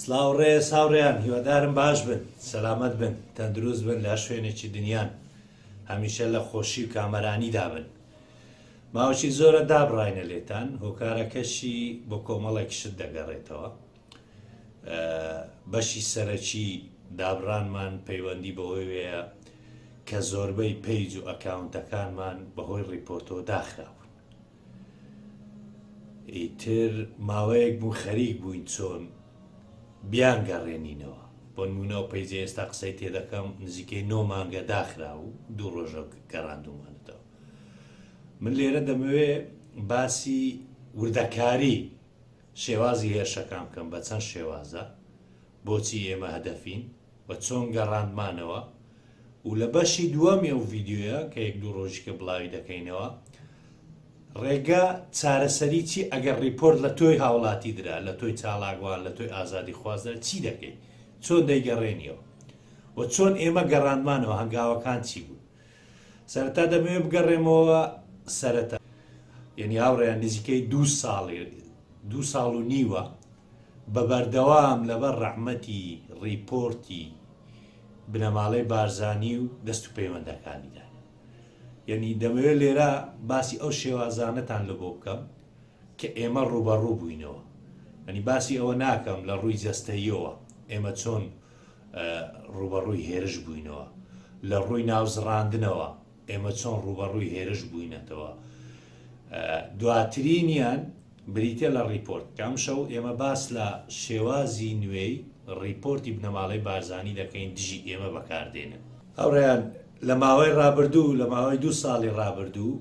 سلااو ڕێ ساوڕێیان هیوادارم باش بن سەلامت بن تەندروست بن لە شوێنێکی دنیان هەمیشە لە خۆشی و کامەرانی دابن ماوەی زۆرە دابڕینە لێتان هۆکارەکەشی بۆ کۆمەڵێک شت دەگەڕێتەوە بەشی سەرەکی دابڕانمان پەیوەندی بەوەوەیە کە زۆربەی پەیج و ئەکاونتەکانمان بەهۆی ڕیپۆرتەوە داخراون ئیتر ماوەیەک بوو خەریک بووین چۆن بیان گەڕێنینەوە بۆنمونەوە پەیجە ئێستا قسەی تێدەکەم نزیکەی نۆ مانگە داخرا و دوو ڕۆژە گەڕاندومانەوە من لێرە دەمەوێ باسی وردەکاری شێوازی هێرشەکان بکەم بە چەند شێوازە، بۆچی ئێمە هەدەفین و چۆن گەڕاندمانەوە و لە بەشی دووەمی ئەو ڤیدیۆیە کە یەک دوو ڕۆژیکە بڵاوی دەکەینەوە ڕێگە چارەسەری چی ئەگەر ڕیپۆرت لە تۆی هاوڵاتی درا لە تۆی چاڵاگوان لە تۆی ئازادی خوازدا چی دەکەیت چۆن دەیگەڕێنیەوە و چۆن ئێمە گەڕاندمانەوە هەنگاوەکان چی بوو؟ سەرەتا دەمەوێت بگەڕێمەوە سەرەتا یعنی هاوڕێیان نزیکەی دوو ساڵێ دوو ساڵ و نیوە بە بەردەوام لەبەر ڕەحمەتی ڕیپۆرتی بنەماڵەی بارزانی و دەست و پەیوەندەکانیدا یعنی دەمەوێت لێرە باسی ئەو شێوازانەتان لە بۆ بکەم کە ئێمە ڕوبەڕوو بووینەوە ئەنی باسی ئەوە ناکەم لە ڕووی جەستەیەوە ئێمە چۆن ڕووبەڕووی هێرش بووینەوە لە ڕووی ناوزڕاندنەوە ئێمە چۆن ڕووبەڕووی هێرش بووینەتەوە دواترینیان بریتە لە ڕیپۆرت کام شەو ئێمە باس لە شێوازی نوێی ڕیپۆرتی بنەماڵەی بارزانانی دەکەین دژی ئێمە بەکاردێنن هاوڕیان لە ماوەی ڕابردوو، لە ماوەی دوو ساڵی ڕابردوو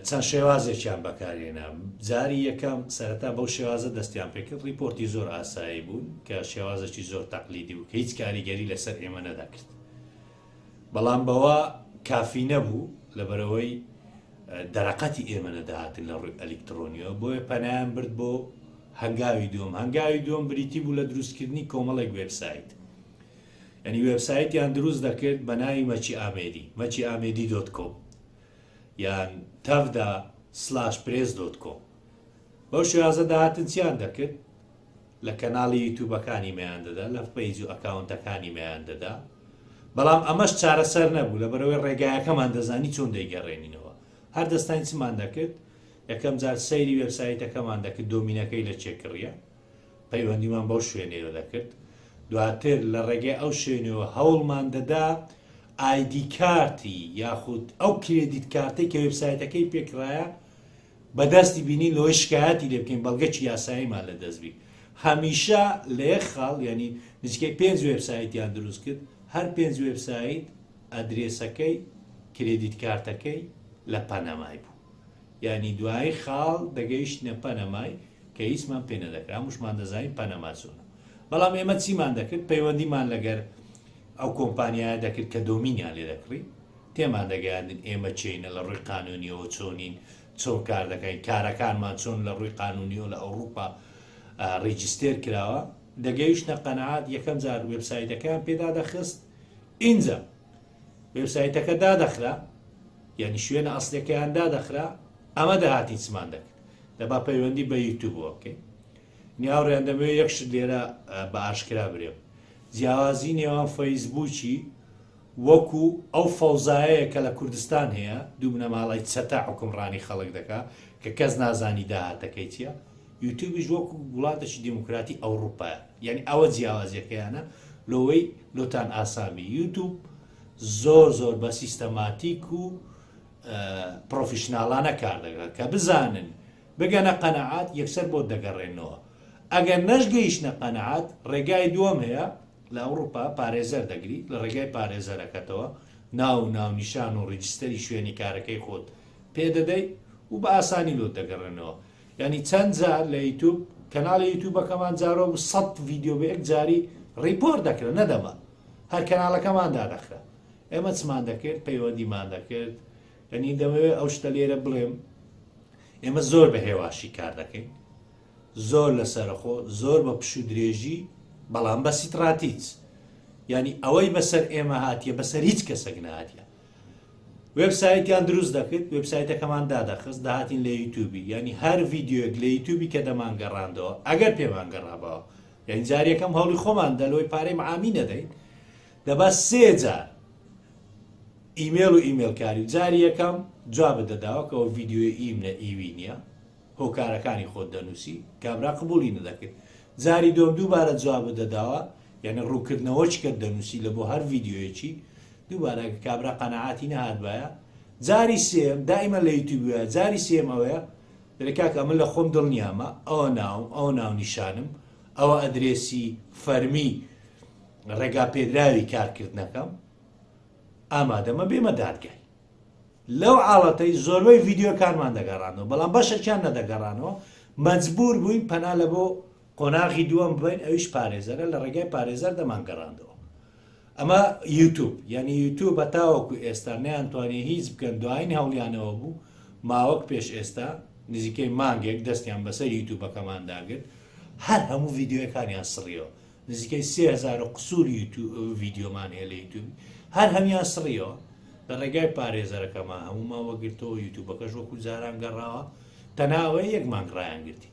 چەند شێوازێکیان بەکارهێنا. جاری یەکەم سەرەتا بەو شێوازە دەستیان پێ کرد، ڕیپۆرتی زۆر ئاسایی بوون کە شێوازێکی زۆر تەقلیدی بوو کە هیچ کاریگەری لەسەر ئێمە نەدەکرد. بەڵام بەوە کافی نەبوو لەبەرئەوەی دەرەقەتی ئێمە نەدەهاتن لە ڕووی ئەلیکتڕۆنیەوە، بۆیە پەنایان برد بۆ هەنگاوی دووەم. هەنگاوی دووەم بریتی بوو لە دروستکردنی کۆمەڵێک وێبسایت. یانی وێبسایتیان دروست دەکرد بە ناوی مەکی ئامێدی، maciamedi dot com، یان tavda slash press dot com. بەو شێوازە دەهاتن چیان دەکرد؟ لە کەناڵی یوتوبەکانی مەیان دەدا، لە پەیج و ئەکاونتەکانی مەیان دەدا. بەڵام ئەمەش چارەسەر نەبوو، لەبەرەوەی ڕێگایەکەمان دەزانی چۆن دەیگەڕێنینەوە. هەر دەستاین چمان دەکرد؟ یەکەم جار سەیری وێبسایتەکەمان دەکرد دۆمینەکەی لە کێ کڕییە. پەیوەندیمان بەو شوێنەوە دەکرد دواتر لە ڕێگەی ئەو شوێنەوە هەوڵمان دەدا ئایدی کارتی یاخود ئەو کرێدیت کارتێک کە وبسایتەکەی پێکرایە بەدەستی بینین لەوەی شکایەتی لێ بکەین بەڵگەکی یاساییمان لە دەستبی هەمیشە لێ خاڵ ینی نزیکەی پێنج وبسایتیان دروست کرد هەر پێنج وبسایت ئەدرێسەکەی کرێدیت کارتەکەی لە پەنەمای بوو یانی دوایی خاڵ دەگەیشتینە پەنەمای کە هیچمان پێ نەدەکرا هەمووشمان دەزانین پەنەما چۆنە بەڵام ئێمە چیمان دەکرد پەیوەندیمان لەگەر ئەو کۆمپانیایە دەکرد کە دۆمینیان لێ دەکڕی تێمان دەگەیاندن ئێمە چینە لە ڕووی قانونیەوە چۆنین چۆن کار دەکەین کارەکانمان چۆن لە ڕووی قانونیەوە لە ئەوروپا ڕیجستێر کراوە دەگەیشتە قەنەعات یەکەم جار وبسایتەکەیان پێدا دەخست ئینجا وێبسایتەکە دادەخرا یانی شوێنە ئەسلەکەیان دادەخرا ئەمە داهاتی چمان دەکرد دەبا پەیوەندی بە یوتوبەوە بکەین نیاوڕێن دەمەوێت یەکش لێرە بە ئاشکرا برێم جیاوازی نێوان فەیسبووکی وەکو ئەو فەوزایەیە کە لە کوردستان هەیە دوو بنەماڵی چەتە حکومڕانی خەڵک دەکا کە کەس نازانی داهاتەکەی چییە یوتوبیش وەک وڵاتەکی دیموکراتی ئەوڕوپایە یانی ئەوە جیاوازیەکەیانە لۆوەی لۆتان ئاسابی یوتوب زۆر زۆر بە سیستەماتیک و پرۆفیشنناڵانە کار دەگرن کە بزانن بگەنە قەنەعات یەکسەر بۆ دەگەڕێنەوە ئەگەر نەشگەیشتە قەنەعات ڕێگای دووەم هەیە لە ئەوروپا پارێزەر دەگری لە ڕێگای پارێزەرەکەتەوە ناو و ناونیشان و ڕیجستەری شوێنی کارەکەی خۆت پێدەدەیت و بە ئاسانی لۆ دەگەڕێنەوە یانی چەند جار لە یوتوب کەناڵی یوتوبەکەمان جارۆ بوو سەد ڤیدیۆ بە یەک جاری ڕیپۆرت دەکرا نەدەما هەر کەناڵەکەمان دادەخرا ئێمە چمان دەکرد پەیوەندیمان دەکرد یعنی دەمەوێت ئەو شتە لێرە بڵێم ئێمە زۆر بە هێواشی کار دەکەین زۆر لە سەرخۆ زۆر بە پشو درێژی بەڵام بە سیتراتیچ ینی ئەوەی بەسەر ئێمە هاتیە بەسەر هیچ کەسەک نهاتە وێب سایتیان دروست دەکرد وێب سایتەکەمان دادەخست داهاتین لە یوتوبی ینی هەر ڤیددیوێک لە یوتوبی کە دەمان گەڕاندەوە ئەگەر پێمان گەڕابەوە یعنی جارەکەم هەڵی خۆمان دەلۆی پارەی معامی نەدەین دەبا سێجار ئیمێل و ئیمێلکاری جاری یەکەم جواب دەداوەکەەوە ڤیددیوی ئیم لە ئیوی نییە هۆکارەکانی خۆت دەنووسی کابرا قبولی نەدەکرد جاری دۆم دووبارە جواب دەداوە یەعنی ڕوونکردنەوە چ کەت دەنووسی لە بۆ هەر ڤیدیۆیەکی دووبارە ئەگە کابرا قەناعاتی نەهاتبایە جاری سێم دائیمە لە یوتیوب وایە جاری سێم ئەوەیە دەێ کاکە ئەمە لە خۆم دڵنیامە ئەوە ناوم ئەوە ناو نیشانم ئەوە ئەدرێسی فەرمی ڕێگا پێدراوی کارکردنەکەم ئامادەمە بێمە دادگای لەو عاڵەتەی زۆربەی ڤیددیوکانمان دەگەڕانەوە بەڵام بەشەکیان نەدەگەڕانەوە مەجبور بووین پەنا لە بۆ قۆناغی دووەم بوین ئەویش پارێزەرە لە ڕێگای پارێزەر دەمانگەڕاندەوە ئەمە یوتوب یعنی یوتوب بەتاوەکو ئێستا نیان توانێ هیچ بکەن دوایین هەوڵیانەوە بوو ماوەک پێش ئێستا نزیکەی مانگێک دەستیان بەسەر یوتوبەکەمان داگرت هەر هەموو ڤیددیوەکانیان سڕیەوە نزیکەی سهزار قسوور ڤیددیۆمان هەیە لە یوتوبی هەر هەمیان سڕیەوە لە ڕێگای پارێزەرەکەمان هەمومان وەگرتەوە یوتوبەکەش وەکو جاران گەڕاوە تەناوەی یەک مانگ ڕایان گرتی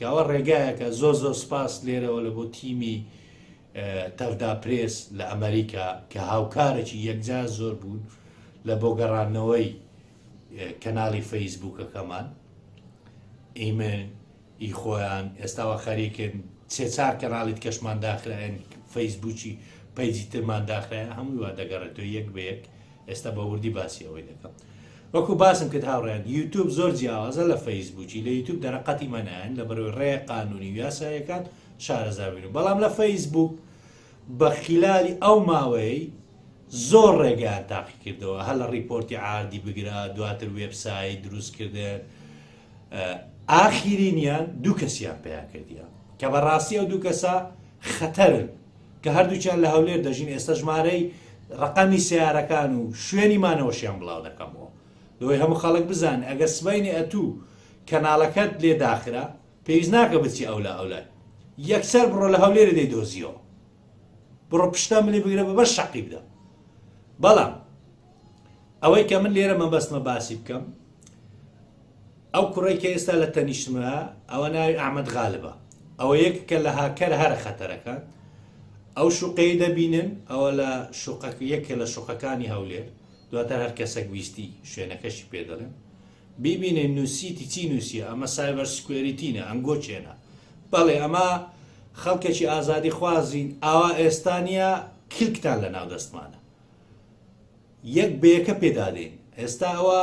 کاوە ڕێگایەکە زۆر زۆر سپاس لێرەوە لە بۆ تیمی تەڤدا پرێس لە ئەمەریکا کە هاوکارەکی یەکجار زۆر بوون لە بۆ گەڕانەوەی کەناڵی فەیسبووکەکەمان ئیمە ئی خۆیان ئێستاوە خەریکن سێ چار کەناڵیت کەشمان داخراێن فەیسبووکی پەیجی ترمان داخراە هەمووی وا دەگەڕێتەوە یەک بە یەک ئێستا بە وردی باسی ئەوەی دەکەم وەکو باسم کرد هاوڕێن یوتوب زۆر جیاوازە لە فەیسبووکی لە یوتوب دەرەقەتی مەنایەن لە بەرەوەی ڕێ قانونی و یاسایەکان شارەزابین و بەڵام لە فەیسبووک بە خلالی ئەو ماوەی زۆر ڕێگەیان تاقی کردەوە هەر لە ڕیپۆرتی عادی بگرە دواتر وێبسایی دروست کردن ئاخیرینیان دوو کەسیان پیا کردیان کە بەڕاستی ئەو دوو کەسە خەتەرن کە هەردووکیان لە هەولێر دەژین ئێستا ژمارەی ڕەقەمی سیارەکان و شوێنی مانەوەشیان بڵاو دەکەمەوە لەوەی هەموو خەڵک بزان ئەگەر سبینی ئەتوو کەناڵەکەت لێ داخرا پێویست ناکە بچی ئەولا ئەولای یەکسەر بڕۆ لە هەولێرە دەی دۆزیەوە بڕۆ پشتا منی بگرە بە بەر شەقی بدە بەڵام ئەوەی کە من لێرە مەبەستمە باسی بکەم ئەو کوڕەی کە ئێستا لە تەنیشتمە ئەوە ناوی ئەحمەد غالبە ئەوە یەک کە لە هاکەر هەرە خەتەرەکان ئەو شوقەی دەبینن ئەوە لە شوقەک یەکێ لە شوقەکانی هەولێر دواتر هەر کەسەک ویستی شوێنەکەشی پێ دەڵێن بیبینێ نووسیتی چی نووسە ئەمە سایبەر سکوێریتینە ئەنگۆ چێنە بەڵێ ئەمە خەڵکێکی ئازادی خوازین ئاوا ئێستانە کلکتان لە ناو دەستمانە یەک بەیەکە پێدادەین ئێستا ئەوە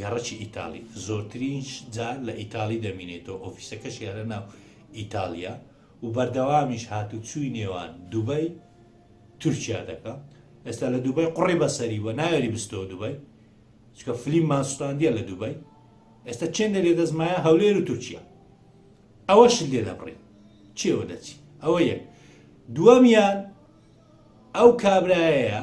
گەڕەکی ئیتاڵی، زۆرترین جار لە ئیتاڵی دەمینێتەوە، ئۆفیسەکەشی هەرە ناو ئیتاڵییە و بەردەوامیش هاتووچووی نێوان دوبەی تورکیا دەکا، ئێستا لە دوبەی قوڕی بە سەری بووە ناوێری بستەوە دوبەی، چونکە فلیممان سوتاندیە لە دوبەی، ئێستا چێندە لێ دەست مایە هەولێر و تورکیا ئەوەشت لێ دەبڕی چێوە دەچی، ئەوە یەک دووەمیان ئەو کابرایەیە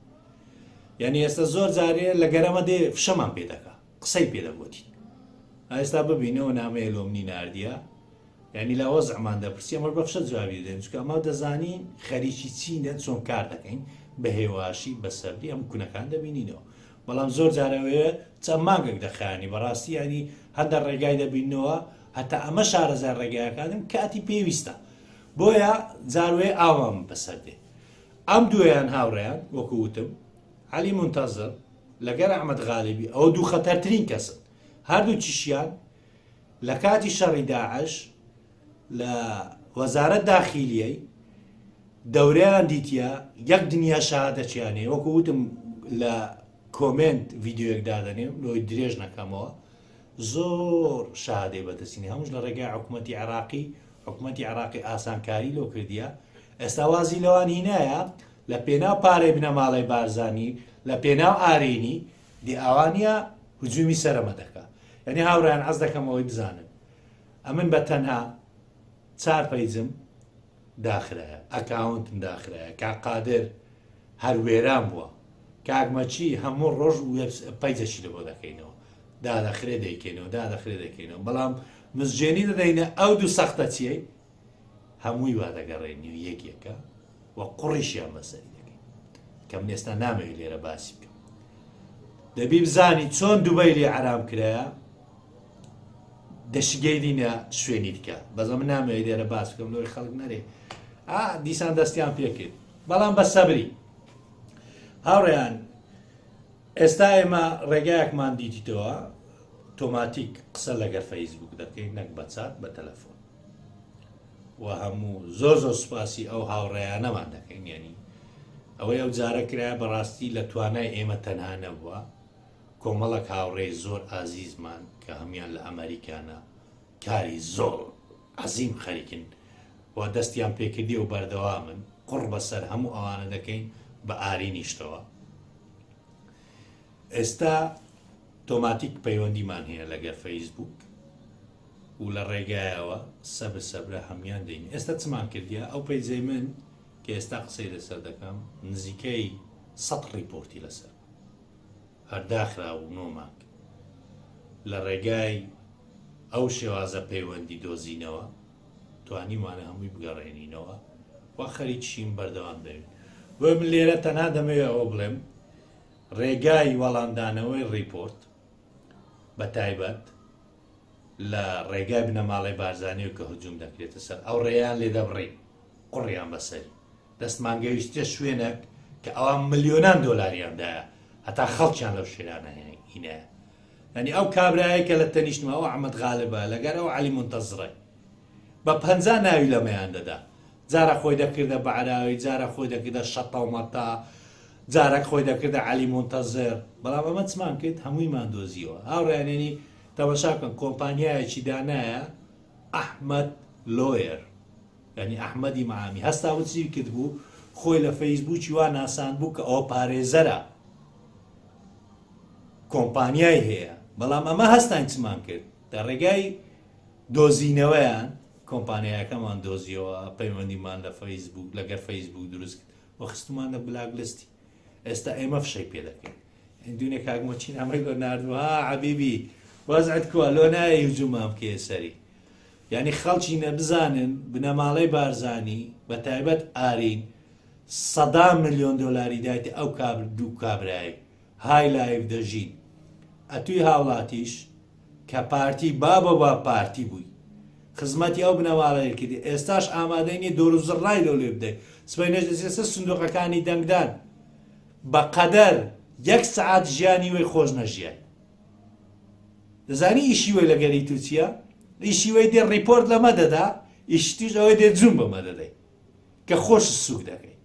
یعنی ئێستا زۆر جارێ لە گەرەمە دێ فشەمان پێ دەکا قسەی پێ دەگوتی ئێستا ببینەوە نامەیە لۆمنی نردە یعنی لە وەزعمان دەپرسی ئەمە بە فشە جوابی دێن چکە ئەمە دەزانی خەریکی چینە چۆن کار دەکەین بە هێواشی بە سەبری ئەم کونەکان دەبینینەوە بەڵام زۆر جارەوەیە چەند ماگەک دەخانی بەڕاستی ینی هەندە ڕێگای دەبینەوە هەتا ئەمە شارەزای ڕێگایەکانم کاتی پێویستە بۆیە جاروێ ئاوام بەسەر دێ ئەم دوویان هاوڕێیان، وەکو وتم، عەلی مونتەزر لەگەر ئەحمەد غالیبی، ئەوە دوو خەتەرترین کەسن. هەردووکیشیان لە کاتی شەڕی داعش لە وەزارەت داخیلیی دەورەیان دیتیە، یەک دنیا شەهادەچیان هەیە، وەکو وتم لە کۆمێنت ڤیدیۆیەک دادەنێم لۆی درێژ نەکەمەوە، زۆر شەهادەی بەدەستینە، هەمووش لە ڕێگای حکومەتی عێراقی حکومەتی عێراقی ئاسانکاری لۆ کردیە ئێستا وازی لەوان هینایە لە پێناو پارەی بنەماڵەی بارزانی لە پێناو ئارینی دی ئاوانە هجومی سەرمە دەکا یعنی هاوران عز دەکەمەوەی بزانن ئەمن بە تەنها چار پەیجم داخرایە ئەکاونتم داخرایە کا قادر هەر وێران بووە کاگمەچی هەموو ڕۆژ پەیجەشی لە بۆ دەکەینەوە دادەخرێ دەیکەینەوە دادەخرێ دەکەینەوە بەڵام مزجێنی دەدەینە ئەو دوو سەختەچیەی هەمووی وا دەگەڕێنی و یەک یەکە و قوڕیشیان بەسەری دەکەین کەم ئێستا نامەوێت لێرە باسی بکەم دەبی بزانی چۆن دوبەی لێ عرام کرایە دەشگەینینە شوێنی دیکە بەزە من نامەوێت لێرە باس بکەم لۆی خەڵک نەرێ ئا دیسان دەستیان پێکرد بەڵام بە سەبری هاوڕیان ئێستا ئێمە ڕێگایەکمان دیتیتەوە تۆماتیک قسە لەگەر فەیسبوک دەکەین نەک بە چات بە تەلەفۆن و هەموو زۆر زۆر سوپاسی ئەو هاوڕێیانەمان دەکەین یعنی ئەوەی ئەو جارە کرایە بەڕاستی لە توانای ئێمە تەنها نەبووە کۆمەڵک هاوڕێ زۆر ئازیزمان کە هەمان لە ئەمریکانە کاری زۆر عزیم خەریکن و دەستیان پێکردی و بەردەوامن قڕ بەسەر هەموو ئەوانە دەکەین بە ئارینیشتەوە ئێستا تۆماتیک پەیوەندیمان هەیە لەگە فەیسبوک و لە ڕێگایەوە سەبر سەبرە هەموان دەین ئێستا چمان کردیا ئەو پەیزەی من کە ئێستا قسەی لەسەر دەکەم نزیکەی سە ڕیپۆرتی لەسەر هەرداخرا و نۆماک لە ڕێگای ئەو شێوازە پەیوەندی دۆزینەوە توانیومانە هەمووی بگەڕێنینەوە و خەریکیشین بەردەوام دەبین بۆیە من لێرە تەنها دەمەوێت ئەوە بڵێم ڕێگای وەڵامدانەوەی ڕیپۆرت بە تایبەت لە ڕێگای بنەماڵی بارزانانی و کە هجووم دەکرێتە سەر ئەو ڕێیان لێ دەبڕی قڕیان بەسەری دەستمان گەویشتە شوێنێک کە ئەوان ملیۆنان دۆلاریاندایە هەتا خەڵکیان لەو شێرانە هێنێک هینەیە یانی ئەو کابرایەی کە لە تەنیشتما ئەو ئەحمەد غالبە لەگەر ئەو عەلی مونتەزڕەی بە پەنجا ناوی لەمەیان دەدا جارە خۆی دەکردە بەعراوی جارە خۆی دەکردە شەتە و مەتە جارەک خۆی دەکردە عەلی مونتەزر بەڵام ئەمە چمان کرد هەموویمان دۆزیەوە هاوڕیانێنی تەمەشا بکەن کۆمپانیایەکی دانایە ئەحمد لۆیر ینی ئەحمەدی معامی هەستا وچی کرد بوو خۆی لە فەیسبووکی وا ناسان بوو کە ئەوە پارێزەرە کۆمپانیای هەیە بەڵام ئەمە هەستان چمان کرد لە ڕێگای دۆزینەوەیان کۆمپانیایەکەمان دۆزیەوە پەیوەندیمان لە فەیسبوک لەگەر فەیسبوک دروست کرد و خستمان لە بلاک لستی ئێستا ئێمە فشەی پێ دەکەین دونێ کاگمە چین ئەمەی لۆ نردوە عبیبی وەزعت کووە لۆ نایە یوجومام کێ سەری یعنی خەڵکی نەبزانن بنەماڵەی بارزانی بە تایبەت ئارین سەدا ملیۆن دۆلاری دایتە ئەو کابر دوو کابرایی های لایڤ دەژین ئەتوی هاوڵاتیش کە پارتی بابە با پارتی بووی خزمەتی ئەو بنەماڵەیە کردی ئێستاش ئامادەی نیە دۆر و زڕای لەو لێ بدەیت سبەی نەجلسێسە سندوقەکانی دەنگدان بەقەدەر یەک سعات ژیانی وی خۆش نەژیای دەزانی ئیشی وی لەگەری تووچە ئیشی وی دێ ڕیپۆرت لەمە دەدا ئیشتیش ئەوەی دێ جون بەمە دەدەیت کە خۆشت سوک دەکەی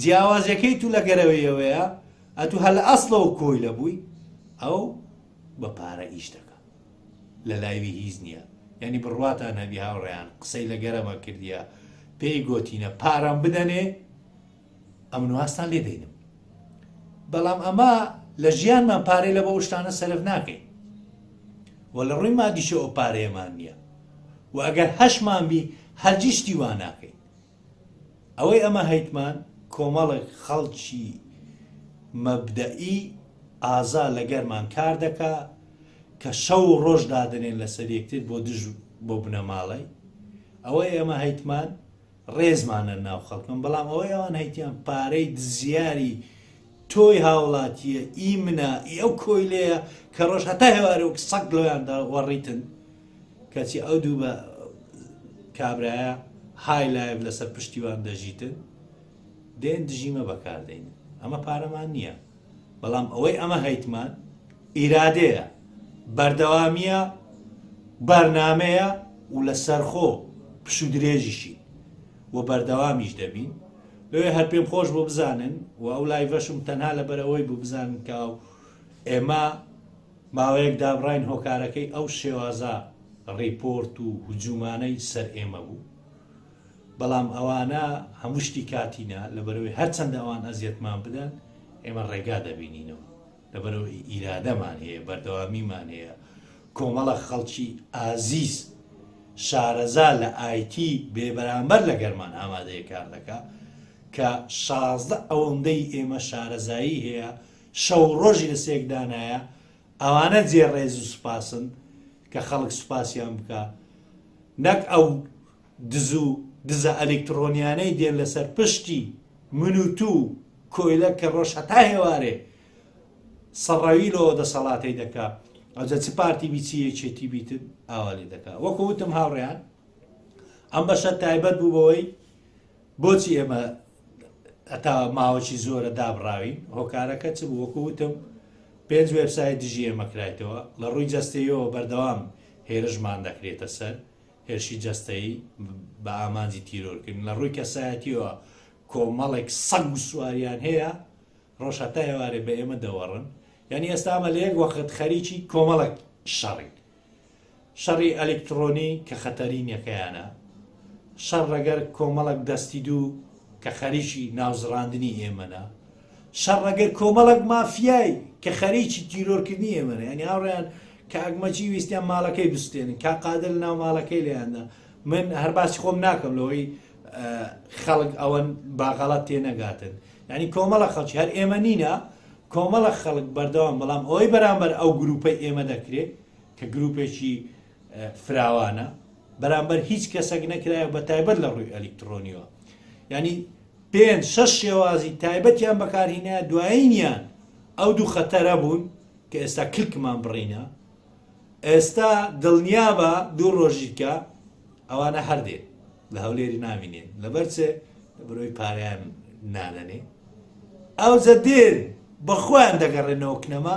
جیاوازیەکەی تو لە گەرەوەیەوەیە ئەتو هەل ئەسڵەوە کۆی لە بووی ئەو بە پارە ئیش دەکە لە لایوی هیچ نییە یعنی بڕواتان هەبی هاوڕیان قسەی لە گەرەمە کردیە پێی گۆتینە پارەم بدەنێ ئەمنوازتان لێ دەینم بەڵام ئەمە لە ژیانمان پارەی لە بۆ شتانە سەرف ناکەین و لە ڕووی مادیشە ئەو پارەیەمان نییە و ئەگەر هەشمان بی هەرجیشتی وا ناکەین ئەوەی ئەمە هەیتمان کۆمەڵک خەڵکی مەبدەئی ئازا لە گەرمان کار دەکا کە شەو و ڕۆژ دادنێن لەسەر یەکتر بۆ دژ بۆ بنەماڵەی ئەوەی ئێمە هەیتمان ڕێزمان لە ناو خەڵکن بەڵام ئەوەی ئەوان هەیتیان پارەی دزیاری تۆی هاوڵاتیە ئی منا ئی ئەو کۆیلەیە کە ڕۆژ هەتا هێوارە وەک سەگ لۆیاندا وەڕیتن کەچی ئەو دوو بە کابرایە های لایف لەسەر پشتیوان دەژیتن دێن دژیمە بەکاردەین ئەمە پارەمان نییە بەڵام ئەوەی ئەمە هەیتمان ئیرادەیە، بەردەوامییە، بەرنامەیە و لە سەرخۆ پشوودرێژیشین و بەردەوامیش دەبین. لۆیە هەر پێم خۆش بوو بزانن و ئەو لایڤەشم تەنها لەبەر ئەوەی بوو بزانن کە ئێمە ماوەیەک دابڕاین هۆکارەکەی ئەو شێوازە ڕیپۆرت و هجوومانەی سەر ئێمە بوو. بەڵام ئەوانە هەموو شتی کاتی نا، لەبەرئەوەی هەرچەندە ئەوان ئەزیەتمان بدەن ئێمە ڕێگا دەبینینەوە، لەبەرئەوەی ئیرادەمان هەیە، بەردەوامیمان هەیە، کۆمەڵە خەڵکی ئازیز شارەزا لە ئایتی بێ بەرامبەر لەگەرمان ئامادەیە کار دەکا کە شازدە ئەوەندەی ئێمە شارەزایی هەیە شەو ڕۆژی لە سێکدانایە ئەوانە جێ ڕێز و سوپاسن کە خەڵک سوپاسیان بکە نەک ئەو دز و دزە ئەلیکتڕۆنیانەی دێن لەسەر پشتی من و تو و کۆیلە کە ڕۆژ هەتا هێوارێ سەڕەوی لۆ دەسەڵاتەی دەکا ئەوجە چ پارتی بی چی یەکێتی بیتن ئاوا لێ دەکا وەکو وتم هاوڕیان ئەم بەشە تایبەت بوو بەوەی بۆچی ئێمە ئەتا ماوەی زۆرە دابراوین هۆکارەکە چ بوو وەکو وتم پێنج وێبسای دژی ئێمەکرایتەوە لە ڕووی جەستەیەوە بەردەوام هێرشمان دەکرێتە سەر هێرشی جەستەیی بە ئامانجی تیرۆرکردن لە ڕووی کەسایەتیەوە کۆمەڵێک سەگ و سواریان هەیە ڕۆژ هەتا ئێوارێ بە ئێمە دەوەڕن یعنی ئێستا ئەمە لە یەک وەخت خەریکی کۆمەڵک شەڕی شەڕی ئەلکترۆنی کە خەتەرینەکەیانە شەڕ ڕەگەر کۆمەڵک دەستی دوو کە خەریکی ناوزڕاندنی ئێمەە شەڕەگەر کۆمەڵەک مافیای کە خەریکی تیرۆرکردنی ئێمەن یعنی هاوڕێیان کاک مەجی ویستیان ماڵەکەی بستێنن کا قادر لە ناو ماڵەکەی لێیاندا من هەر باسی خۆم ناکەم لەوەی خەڵک ئەوەن باغەڵات تێ نەگاتن یعنی کۆمەڵە خەڵکی هەر ئێمە نینە کۆمەڵە خەڵک بەردەوام بەڵام ئەوەی بەرامبەر ئەو گروپەی ئێمە دەکرێت کە گروپێکی فراوانە بەرامبەر هیچ کەسەک نەکرایە بە تایبەت لە ڕووی ئەلیکترۆنیەوە ینی پێ شەش شێوازی تایبەتیان بەکارهینە دوایینیان ئەو دوو خەتەرە بوون کە ئێستا کلکمان بڕینە ئێستا دڵنیا بە دوو ڕۆژیکە ئەوانە هەردێ لە هەولێری نامینێن لەبەرچێ برۆی پاریان نانەنێ ئەو جە دێن بەخۆیان دەگەڕێنەوە کنەما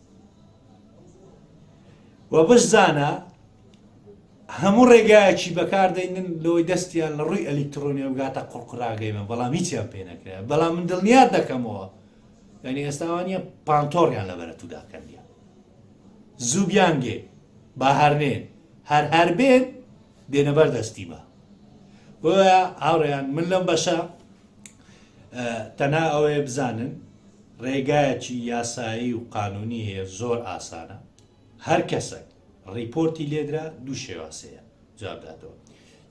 و بشزانە هەموو ڕێگایەکی بەکاردەینن لەوەی دەستیان لە ڕووی ئەلیکترۆنی بگاتە قڕقراگەیمە بەڵام هیچیان پێ نەکرێ بەڵام من دڵنیات دەکەمەوە یعنی ئێستاوانە پانتۆڕیان لە بەرە توداکەندە زوو بیانگێ با هەرنێن هەر هەر بێن دێنەبەر دەستی بە بۆە هاوڕێیان من لەم بەشە تەنها ئەوەیە بزانن ڕێگایەکی یاسایی و قانونی هەیە زۆر ئاسانە هەر کەسەک ڕیپۆرتی لێدرا دوو شێواسەیە جوابداتەوە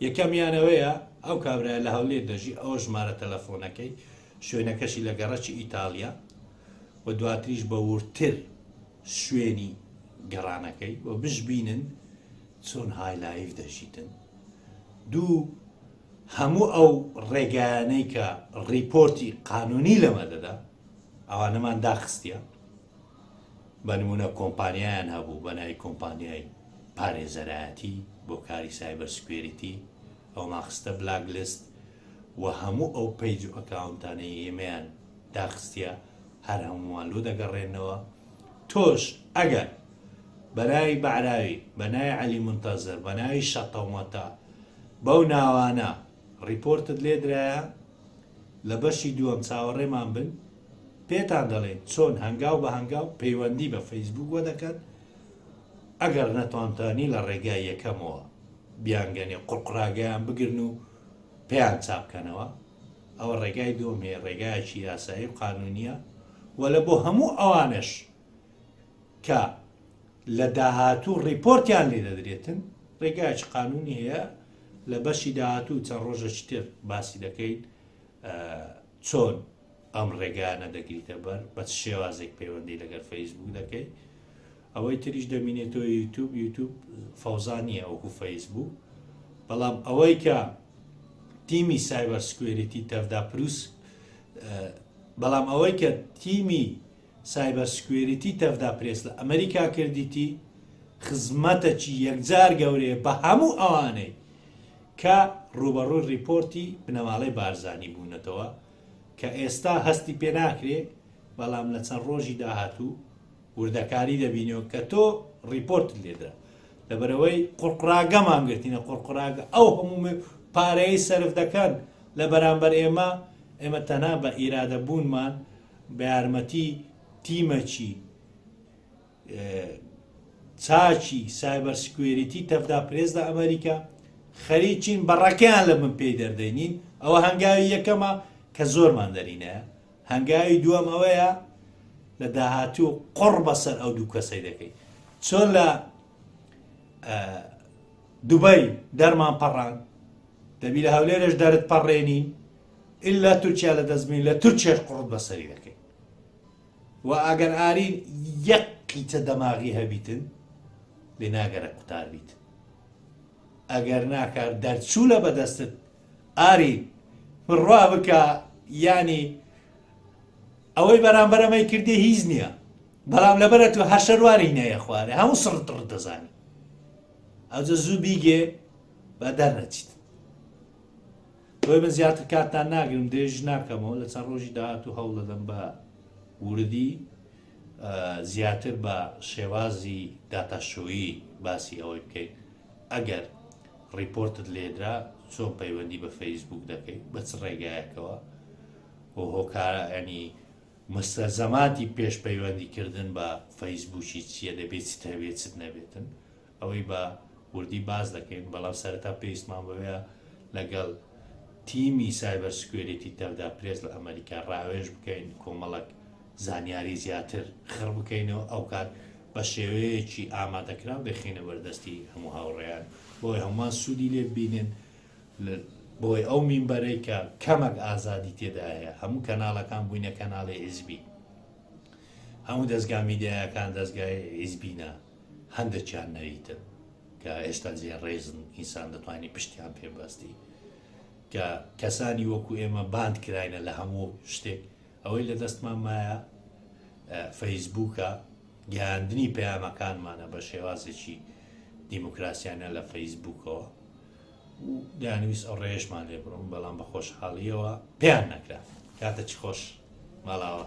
یەکەمیانەوەیە ئەو کابرای لە هەولێر دەژی ئەو ژمارە تەلەفۆنەکەی شوێنەکەشی لە گەڕەکی ئیتالیا و دواتریش بە ورتر شوێنی گەڕانەکەی و بشبینن چۆن هایلایف دەژیتن دوو هەموو ئەو ڕێگایانەی کە ڕیپۆرتی قانونی لەمە دەدا ئەوانەمان داخستە بە نمونە کۆمپانیایان هەبوو بە ناوی کۆمپانیای پارێزەرایەتی بۆ کاری سایبەر سکوێریتی ئەو ماخستە بلاک لست و هەموو ئەو پەیج و ئەکاونتانەی ئێمەیان داخستە هەر هەمووان لۆ دەگەڕێنەوە تۆش ئەگەر بەناوی بەعراوی بەناوی علی منتەزر بەناوی شەتەومەتە بەو ناوانە ڕیپۆرتت لێ درایە لە بەشی دووەم چاوەڕێمان بن پێتان دەڵێین چۆن هەنگاو بە هەنگاو پەیوەندی بە فەیسبووک وە دەکەن ئەگەر نەتانتانی لە ڕێگای یەکەمەوە بیانگەنێ قوڕقڕاگەیان بگرن و پێیان چاپکەنەوە ئەوە ڕێگای دووەم هەیە ڕێگایەکی یاسایی و قانونیە و لە بۆ هەموو ئەوانش کە لە داهاتوو ڕیپۆرتیان لێ دەدرێتن ڕێگای چ قانونی هەیە لە بەشی داهاتوو چەند ڕۆژەش تر باسی دەکەیت چۆن ئەم ڕێگانە دەگریتە بەر بە شێوازێک پەیوەندی لەگەر فەیسبوو دەکەیت ئەوەی تریش دەمینێتەوە یوتوب یوتوب فەوزانیە ئەوکو فەیسبوو بەڵام ئەوەی کە تیمی سایبەر سکوێریتی تەفدا پرووس بەڵام ئەوەی کە تیمی سایبەر سکوێریتی تەڤدا پرێس لە ئەمەریکا کردیتی خزمەتەکی یەکجار گەورەیە بە هەموو ئەوانەی کە ڕووبەڕووی ڕیپۆرتی بنەماڵەی بارزانی بوونەتەوە کە ئێستا هەستی پێ ناکرێ بەڵام لە چەند ڕۆژی داهاتوو وردەکاری دەبینەوە کە تۆ ڕیپۆرت لێدرا لەبەرەوەی قڕقراگە مانگرتینە قڕقراگە ئەو هەموو پارەیە سرف دەکەن لە بەرامبەر ئێمە ئێمە تەنا بە ئیرادە بوونمان بە یارمەتی تیمەکی چاکی سایبەر سکوێریتی تەفدا پرێزدا ئەمریکا خەریکین بەڕەکەیان لە من پێی دەردەینین ئەوە هەنگاوی یەکەمە کە زۆرمان دەرینە هەنگاوی دووەم ئەوەیە لە داهاتوو قڕ بەسەر ئەو دوو کەسەی دەکەیت چۆن لە دوبای دەرمان پەڕان دەبی لە هەولێرش دەرت پەڕێنین ئللا تورکیا لە دەستبین لە تورکێش قڕت بەسەری دەکەین و ئەگەر ئارین یەک قیچە دەماغی هەبیتن لێ ناگەرە قوتار بیت ئەگەر ناکار دەرچوو لە بەدەستت ئاری بڕوا بکە ینی ئەوەی بەرامبەرەمەی کردی هیچ نییە بەڵام لەبەرە تو هەشەرواری نەیە خوارێ هەموو سڕ دەزانی ئەوجە زوو بیگێ با دەرنەچیت بۆیە من زیاتر کاتتان ناگرم درێژ ناکەمەوە لە چەند ڕۆژی داهاتوو هەوڵ دەدەم بە وردی زیاتر بە شێوازی داتاشۆیی باسی ئەوەی بکەیت ئەگەر ڕیپۆرتت لێدرا چۆن پەیوەندی بە فەیسبوک دەکەیت بە چ ڕێگایەکەوە و هۆکارە ئەنی مستەزەماتی پێش پەیوەندیکردن بە فەیسبوکی چییە دەبێت چ هەبێت چت نەبێتن ئەوەی بە وردی باس دەکەین، بەڵام سەرەتا پێویستمان بەوەیە لەگەڵ تیمی سایبەر سکوێریتی تەڤدا پرێس لە ئەمەریکا ڕاوێژ بکەین، کۆمەڵەک زانیاری زیاتر خڕ بکەینەوە، ئەوکات بە شێوەیەکی ئامادەکراو دەیخەینە بەردەستی هەموو هاوڕێیان، بۆئەوەی هەمووان سوودی لێ ببینن، بۆی ئەو مینبەرەی کە کەمەک ئازادی تێدا هەیە، هەموو کەناڵەکان بووینە کەناڵی حیزبی، هەموو دەزگا میدیایەکان دەزگای حیزبینە. هەندەکیان نەریتن کە ئێستا زێ ڕێزن ئینسان دەتوانانی پشتیان پێبەستی کە کەسانی وەکو ئێمە باند کراینە لە هەموو شتێک ئەوەی لە دەستمان مایە فەیسبووکە گەیاندنی پەیامەکانمانە بە شێوازێکی دیموکراسیانە لە فەیسبووکەوە دانویست ئەو ڕێژمان لێ بڕم بەڵام بە خۆشحاڵیەوە پێیان نەکرا کاتە چ خۆش ماڵاوە